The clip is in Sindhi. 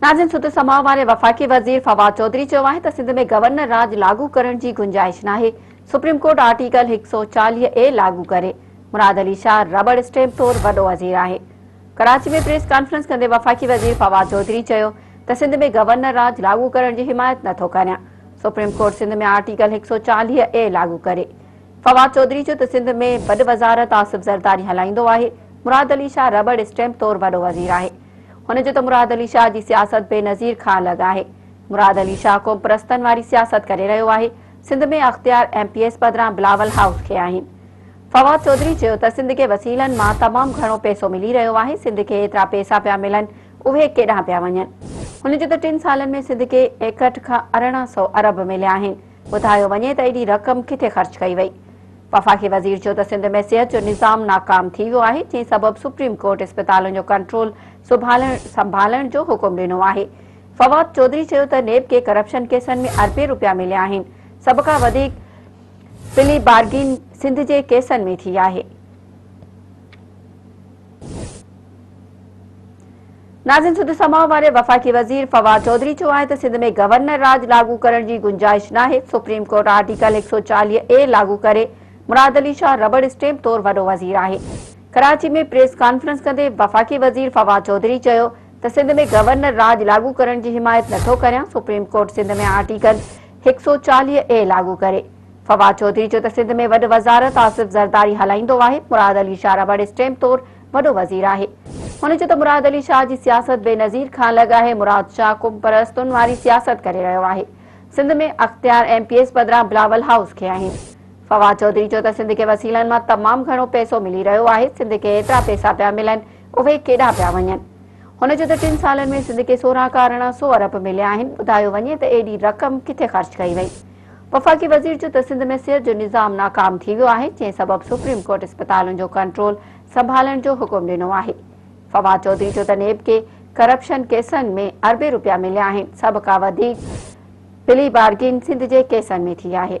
ناظرين سڌ سماء واري وفاقي وزير فواد چوڌري چيو آهي ته سنڌ ۾ گورنر راڄ لاڳو ڪرڻ جي گنجائش ناهي، سپريم ڪورٽ آرٽيڪل هڪ سؤ چاليهه اي لاڳو ڪري، مراد علي شاهه رٻڙ اسٽيمپ طور وڏو وزير آهي. ڪراچي ۾ پريس ڪانفرنس ڪندي وفاقي وزير فواد چوڌري چيو ته سنڌ ۾ گورنر راڄ لاڳو ڪرڻ جي حمايت نٿو ڪريان، سپريم ڪورٽ سنڌ ۾ آرٽيڪل هڪ سؤ چاليهه اي لاڳو ڪري، فواد چوڌري چيو ته سنڌ ۾ وڏ وزارت آصف زرداري هلائيندو آهي، مراد علي شاهه رٻڙ اسٽيمپ طور وڏو وزير آهي. هن چيو ته مراد علي شاهه جي سياست بينظير کان الڳ آهي، مراد علي شاهه قومپرستن واري سياست ڪري رهيو آهي، سنڌ ۾ اختيار ايم پي ايس بدران بلاول هائوس کي آهن. فواد چوڌري چيو ته سنڌ کي وسيلن مان تمام گهڻو پئسو ملي رهيو آهي، سنڌ کي ايترا پئسا پيا ملن اهي ڪيڏانهن پيا وڃن. هن چيو ته ٽن سالن ۾ سنڌ کي ايڪهٺ کان ارڙهن سئو ارب مليا آهن، ٻڌايو وڃي ته ايڏي رقم ڪٿي خرچ ڪئي وئي؟ وفاقي وزير چيو ته سنڌ ۾ صحت جو نظام ناڪام ٿي ويو آهي جنهن سبب سپريم ڪورٽ اسپتالن جو ڪنٽرول سنڀالڻ جو حڪم ڏنو آهي. فواد چوڌري چيو ته نيب کي ڪرپشن ڪيسن ۾ اربين روپيا مليا آهن، سڀ کان وڌيڪ پلي بارگين سنڌ جي ڪيسن ۾ ٿي آهي. ناظرين سڌ سماء واري وفاقي وزير فواد چوڌري چيو آهي ته سنڌ ۾ گورنر راڄ لاڳو ڪرڻ جي گنجائش ناهي سپريم ڪورٽ آرٽيڪل هڪ سؤ چاليهه اي لاڳو ڪري مراد علي شاهه ربڙ اسٽيمپ طور وڏو وزير آهي ڪراچي ۾ پريس ڪانفرنس ڪندي وفاقي وزير فواد چوڌري چيو ته سنڌ ۾ گورنر راڄ لاڳو ڪرڻ جي حمايت نٿو ڪريان سپريم ڪورٽ سنڌ ۾ آرٽيڪل هڪ سؤ چاليهه اي لاڳو ڪري فواد چوڌري چيو ته سنڌ ۾ وڏ وزارت آصف زرداري هلائيندو آهي، مراد علي شاهه رٻڙ اسٽيمپ طور وڏو وزير آهي. هن چيو ته مراد علي شاهه جي سياست بينظير کان الڳ آهي، مراد شاهه قوم پرستن واري سياست ڪري رهيو آهي، سنڌ ۾ اختيار ايم پي ايس بدران بلاول هائوس کي آهن. فواد چوڌري چيو ته سنڌ کي وسيلن مان تمام گهڻو پئسو ملي رهيو آهي، سنڌ کي ايترا پئسا پيا ملن اهي ڪيڏا پيا وڃن. هن چيو ته ٽن سالن ۾ سنڌ کي سورهن کان ارڙهن سئو ارب مليا آهن، ٻڌايو وڃي ته ايڏي رقم ڪٿي خرچ ڪئي وئي. وفاقي وزير چيو ته سنڌ ۾ صحت جو نظام ناڪام ٿي ويو آهي، جنهن سبب سپريم ڪورٽ اسپتالن جو ڪنٽرول سنڀالڻ جو حڪم ڏنو آهي. فواد چوڌري چيو ته نيب کي ڪرپشن ڪيسن ۾ اربين رپيا مليا آهن، سڀ کان وڌيڪ پلي بارگين سنڌ جي ڪيسن ۾ ٿي آهي.